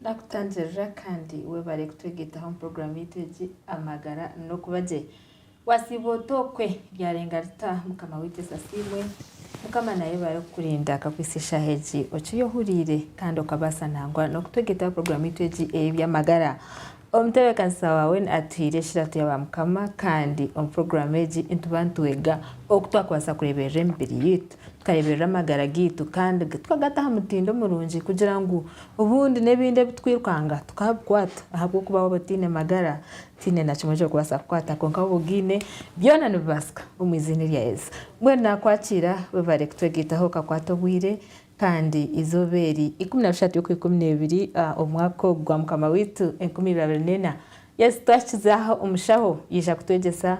Ndakutangirira kandi webare kutwegetaho omu puroguramu yaitu egi Amagara n'Okuba Gye. Wasiiba ota okwe ryarenga rita mukama waitu yesu asiimwe mukama nayebare kukurinda akakwitsa eshaaha egi okiri ohuriire kandi okabaasa nangwa nokutwegeetaho program yaitu egi eyebyamagara omutebekaniisa waawe atuhiire ekiratu yaba mukama kandi omu program egi nituba nitwega oku twakubaasa kureeberera emibiri yaitu tukareeberera amagara gaitu kandi tukagata aha mutindo omurungi kugira ngu obundi nebindi ebitukwirukaanga tukabikwata ahabwokuba waaba otaine magara Tihaine na kimwe ekirikubaasa kukwata kwonka waaba ogaine, byona nibibaasika omu eiziina erya Yesu. Mbwenu naakwakiira, webare kutwegaitaho okakwata obwire kandi eizooba eri ikumi na bishatu y'okwa ikumi n'ebiri omwaka ogu gwa Mukama waitu enkumi ibiri abiri neena. Yesu twakizaaho omushaho yaija kutwegyesa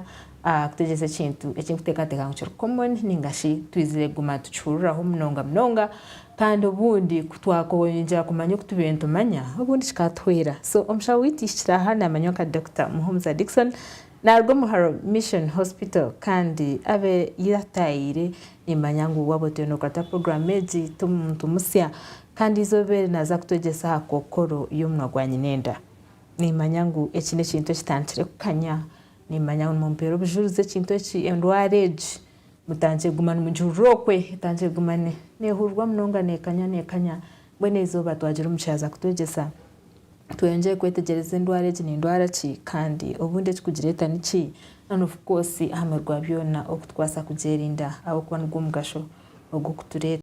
Kutegyesa ekintu eki nkuteekateeka ngu kiri common nainga shi twizire kuguma nitukihuriraho munonga munonga kandi obundi ku twakoyeyongyera kumanya oku tubaire nitumanya obundi kikatuhwera. So omushaho waitu aihikire aha naamanywa nka Dokita Muhumuza Dickson naaruga omu Haro Mission Hospital kandi abe ei ataayaire nimmanya ngu waaba otiire nookurata puroguraamu egi ti muntu musya kandi eizooba eri naaza kutwegyesa aha kookoro y'omunwa gwa nyinenda. Nimmanya ngu eki n'ekintu ekitandikire kukanya Nimumanya ngu nimumpeera obujurizi ekintu eki, endwara egi, mutandikire kuguma nimugihurira okwe, etandikire kuguma nehurirwa munonga nekanya nekanya, mbwenu eizooba twagira omu kihaaza kutwegyesa tweyongyere kwetegyereza endwara egi nendwara ki kandi obundi ekirikugireeta niki, and of course ahamurwi gwa byoona oku turikubaasa kugyerinda ahabw'okuba nigwo mugasho ogu kutureetera.